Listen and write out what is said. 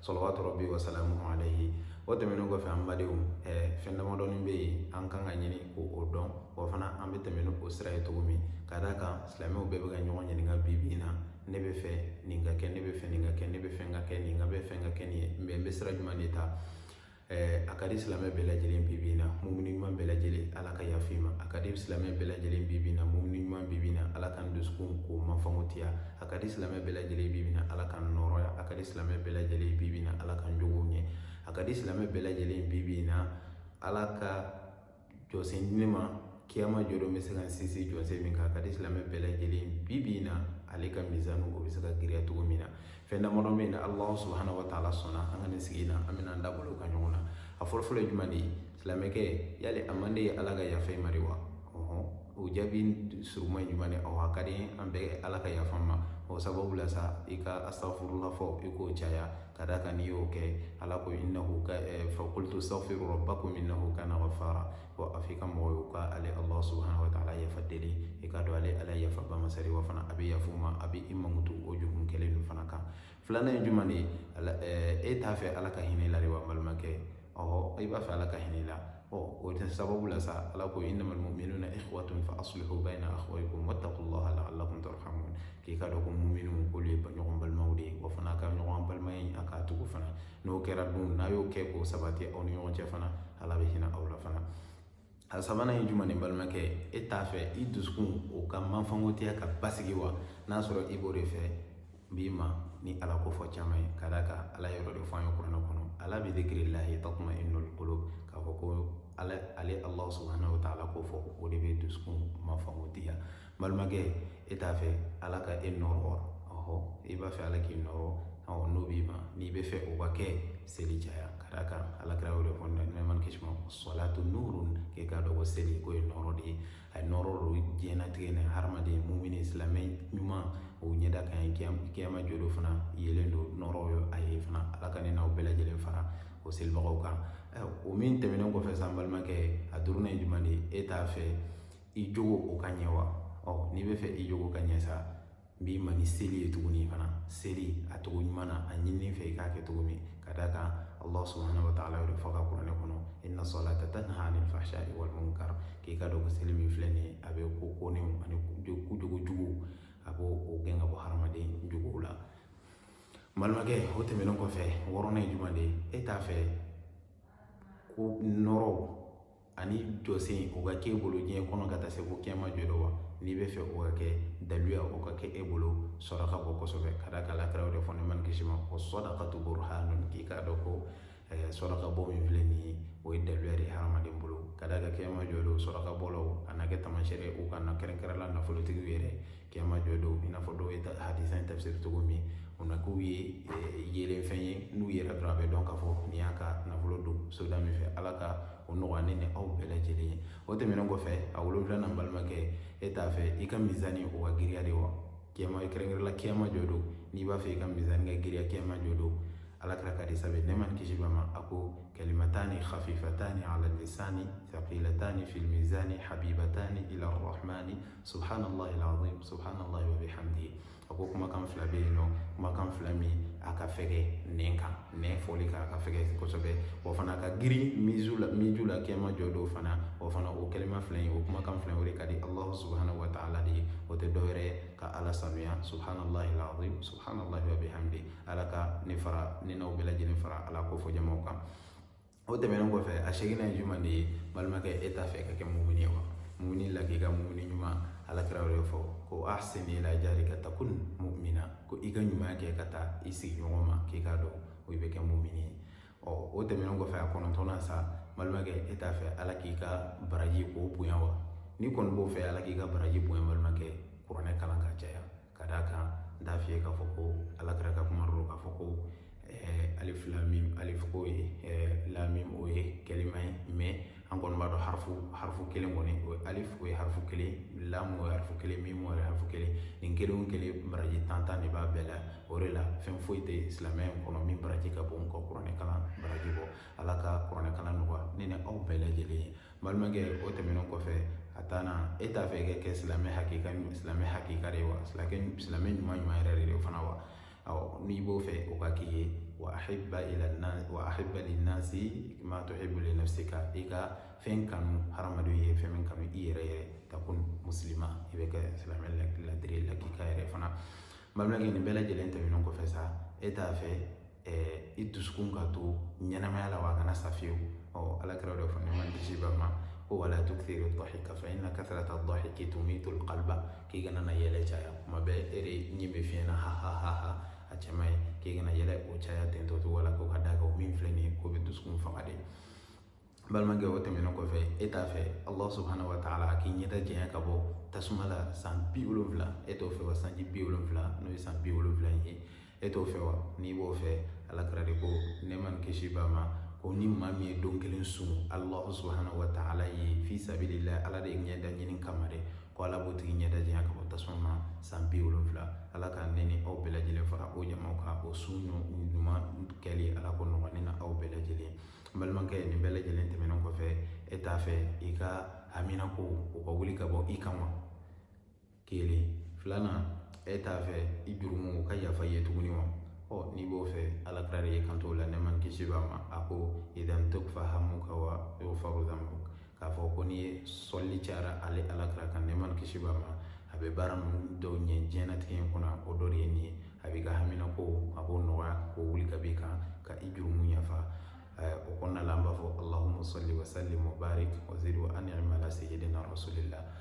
salawatu rabbi wa salamuhu alayhi o tɛmɛnen kɔfɛ an badenw ɛɛ fɛn damadɔni bɛ yen an kan ka ɲini k'o dɔn wa fana an bɛ tɛmɛ ni o sira ye cogo min ka d'a kan silamɛw bɛɛ bɛ ka ɲɔgɔn ɲininka bi bi in na ne bɛ fɛ nin ka kɛ ne bɛ fɛ nin ka kɛ ne bɛ fɛ ka kɛ nin ka bɛ fɛ ka kɛ nin ye n bɛ n bɛ sira jumɛn de ta Eh, a ka di silamɛ bɛɛ lajɛlen bi bi in na mumini ɲuman bɛɛ lajɛlen ala ka yafa i ma a ka di silamɛ bɛɛ lajɛlen bi bi in na mumini ɲuman bi bi in na ala ka n dusukun k'o mafango tiya a ka di silamɛ bɛɛ lajɛlen bi bi in na ala ka n nɔrɔya a ka di silamɛ bɛɛ lajɛlen bi bi in na ala ka n jogo ɲɛ a ka di silamɛ bɛɛ lajɛlen bi bi in na ala ka jɔsen di ne ma kiyama jɔdon bɛ se ka n sinsin jɔsen min kan a ka di silamɛ bɛɛ lajɛlen bi bi in na ale ka mizanu o bɛ se ka giriya cogo min na fɛn damadɔ bɛ yen n'alahu subahana wa taala sɔnna an ka nin sigi in na an bɛna an da bolo ka ɲɔgɔn na a fɔlɔfɔlɔ ye jumɛn de ye silamɛkɛ yali a man d'i ye ala ka yafa i ma de wa o jaabi suruma ye jumɛn de ye awɔ a ka di an bɛɛ ala ka yafa ma o sababu la sa i ka astaghfirullah fɔ i k'o caya ka d'a kan n'i y'o kɛ ala ko innahu ka faqultu astaghfiru rabbakum innahu kana ghaffara ko a f'i ka mɔgɔw y'u ka ale allah subhanahu wa taala yafa deli i ka dɔn ale ala ye yafaba masa de ye wa fana a bɛ yafa i ma a bɛ i mankutu o jugun kɛlen ninnu fana kan filanan ye jumɛn de ye e t'a fɛ ala ka hinɛ i la de wa n balimakɛ ɔhɔ i b'a fɛ ala ka hinɛ i la ɔ o de sababu la sa ala ko innamal mu'minuna ikhwatun fa aslihu bayna akhawaykum wattaqullaha la'allakum turhamun k'i ka dɔn ko mu'minun k'olu ye ɲɔgɔn balimaw de ye wa fana ka ɲɔgɔn balimaya in a k'a tugu fana n'o kɛra dun n'a y'o kɛ k'o sabati aw ni ɲɔgɔn cɛ fana ala bɛ hinɛ aw la fana a sabanan ye jumɛn de ye balimakɛ e t'a fɛ i dusukun o ka manfangotiya ka basigi wa n'a sɔrɔ i b'o de fɛ b'i ma ni ala ko fɔ caman ye ka d'a kan ala yɔrɔ de fɔ an ye kuranɛ kɔnɔ ala bi dhikrillahi tatma'innul qulub k'a fɔ ko ale ale ala subahana wa taala ko fɔ o de bɛ dusukun manfangotiya balimakɛ e t'a fɛ ala ka e nɔrɔ ɔhɔ i b'a fɛ ala k'i nɔrɔ ɔ n'o b'i ma n'i bɛ fɛ o ka kɛ seli caya ka d'a kan alakira y'o de fɔ nɛɛma ni kisi ma salatu nurun k'e k'a dɔn ko seli k'o ye nɔrɔ de ye a ye nɔrɔ don diɲɛnatigɛ ni hadamaden mumini silamɛ ɲuman o ɲɛda kan ye kiyama jɔdon fana yeelen don nɔrɔ ye a ye fana ala ka ne n'aw bɛɛ lajɛlen fara o selibagaw kan o min tɛmɛnen kɔfɛ sa n balimakɛ a duurunan ye jumɛn de ye e t'a fɛ i jogo o ka ɲɛ wa ɔ n'i bɛ fɛ i jogo ka ɲɛ sa n b'i ma ni seli ye tuguni fana seli a cogo ɲuman na a ɲininen i fɛ i k'a kɛ cogo min ka d'a kan allah subhanahu wa taala y'o de fɔ a ka kuranɛ kɔnɔ inna salata tanha anil fahsha'i wal munkar k'i ka dɔn ko seli min filɛ nin ye a bɛ ko kɔnnenw ani ko jogo juguw a b'o gɛn ka bɔ hadamaden jogow la balimakɛ o tɛmɛnen kɔfɛ wɔɔrɔnan ye jumɛn de ye e t'a fɛ ko nɔrɔ ani jɔsen o ka k'e bolo diɲɛ kɔnɔ ka taa se ko kiyama jɔ don wa n'i b'a fɛ o ka kɛ daluya o ka kɛ e bolo saraka bɔ kosɛbɛ ka d'a kan ala kira y'o de fɔ nɛma ni kisi b'a ma o sadaqatu burhanun k'i k'a dɔn ko eh, saraka bɔ min filɛ nin ye o ye daluya de ye hadamaden bolo ka d'a kan kiyama jɔ don sarakabɔlaw a na kɛ tamasɛrɛ u kan na kɛrɛnkɛrɛnla nafolotigiw yɛrɛ kiyama jɔ don i n'a fɔ dɔw ye hadisa in tafsiri cogo min o na k'u ye eh, yeelen fɛn ye n'u yɛrɛ dɔrɔn a bɛ dɔn k'a fɔ nin y'a ka nafolo don soda min fɛ ala ka o nɔgɔya ne ni aw bɛɛ lajɛlen ye o tɛmɛnen kɔfɛ a wolonwulanan balimakɛ e t'a fɛ i ka mizani o ka giriya de wa kiyama kɛrɛnkɛrɛnla kiyama jɔ don n'i b'a fɛ i ka mizani ka giriya kiyama jɔ don ala kira ka hadisa bɛ nɛma ni kisi b'a ma a ko kalimatani khafifatani ala lisani thaqilatani fil mizani habibatani ila arrahmani subhanallahi alazim subhanallahi wa bihamdihi a ko kumakan fila bɛ yen nɔ kumakan fila min a ka fɛgɛ nɛn kan nɛn fɔli kan a ka fɛgɛ kosɛbɛ wa fana ka girin mizu la miju la kiyama jɔ don fana o fana o kalima fila in o kumakan fila o de ka di allahu subhanahu wa ta'ala de ye o tɛ dɔwɛrɛ ye ka ala sanuya subhanallahi alazim subhanallahi wa bihamdihi ala ka ne fara ne n'aw bɛɛ lajɛlen fara ala kofɔ jamaw kan o tɛmɛnen kɔfɛ a seginnan ye jumɛn de ye balimakɛ e t'a fɛ ka kɛ mumuni ye wa mumuni lakika mumuni ɲuman ala kira y'o de fɔ ko ahsin ila jarika takun mu'mina ko i ka ɲuman kɛ ka taa i sigiɲɔgɔn ma k'i k'a dɔn o i bɛ kɛ mumuni ye ɔ o tɛmɛnen kɔfɛ a kɔnɔntɔnnan sa balimakɛ e t'a fɛ ala k'i ka baraji k'o bonya wa n'i kɔni b'o fɛ ala k'i ka baraji bonya balimakɛ kuranɛ kalan ka caya Ka d'a kan n t'a f'i ye k'a fɔ ko alakira ka kuma don k'a fɔ ko eh, alif lam mim alif ko ye eh, lam mim o ye kalima ye mais an kɔni b'a dɔn harifu harifu kelen kɔni o ye alif o ye harifu kelen lam o ye harifu kelen mim o ye harifu kelen nin kelen o kelen baraji tan tan de b'a bɛɛ la o de la fɛn foyi tɛ silamɛya in kɔnɔ min baraji ka bon ka kuranɛ kalan baraji bɔ ala ka kuranɛ kalan nɔgɔya ne ni aw bɛɛ lajɛlen ye balimakɛ o tɛmɛnen kɔfɛ a tannan e t'a fɛ ka kɛ silamɛ hakika silamɛ hakika de ye wa silamɛ silamɛ ɲuman ɲuman yɛrɛ de ye o fana wa awɔ n'i b'o fɛ o ka k'i ye wa ahibba ila nas wa ahibba linnasi ma tuhibbu li nafsika i ka fɛn kanu hadamadenw ye fɛn min kanu i yɛrɛ ye takun muslima i bɛ kɛ silamɛ ladiri lakika yɛrɛ fana balimakɛ nin bɛɛ lajɛlen tɛmɛnen kɔfɛ sa e t'a fɛ i dusukun ka to ɲɛnamaya la wa a kana sa fiyewu ɔ ala kira y'o de fɔ nɛma ni kisi b'a ma ko wala tukthiru dhahika fa inna kathrata dhahiki tumitul qalba k'i kana na yɛlɛ caya kuma bɛɛ e de ɲin bɛ fiɲɛ na ha ha ha ha a cɛ man ɲi k'i kana yɛlɛ o caya ten tɔ cogo la ko ka d'a kan o min filɛ nin ye k'o bɛ dusukun faga de balimakɛ o tɛmɛnen kɔfɛ e t'a fɛ allah subahana wa taala a k'i ɲɛda janya ka bɔ tasuma la san bi wolonfila e t'o fɛ wa sanji bi wolonfila n'o ye san bi wolonfila in ye e t'o fɛ wa n'i b'o fɛ ala kira de ko nɛɛma ni kisi b'a ma ko ni maa min ye don kelen sun allah subahana wa taala ye fi sabilila ala de ye ɲɛda ɲini kama dɛ ko ala b'o tigi ɲɛda janya ka bɔ tasuma ma san bi wolonfila ala ka ne ni aw bɛɛ lajɛlen fara o jamaw kan o sun ɲuman kɛli ala k'o nɔgɔya ne ni aw bɛɛ lajɛlen n balimakɛ nin bɛɛ lajɛlen tɛmɛnen kɔfɛ e t'a fɛ i ka haminako o ka wuli ka bɔ i kan wa kelen filanan e t'a fɛ i jurumu o ka yafa i ye tuguni wa ɔ n'i b'o fɛ ala kira de ye kanto la nɛɛma ni kisi b'a ma a ko idan tukfa hamuka wa yughfaru k'a fɔ ko n'i ye sɔli cayara ale alakira kan nɛɛma ni kisi b'a ma a bɛ baara ninnu dɔw ɲɛ diɲɛnatigɛ in kɔnɔ o dɔ de ye nin ye a b'i ka haminako a b'o nɔgɔya k'o wuli ka b'i kan ka i jurumu yafa o kɔnɔna la an b'a fɔ alahuma sali wa salim wa barik wa zid wa an'im ala sayyidina rasulillah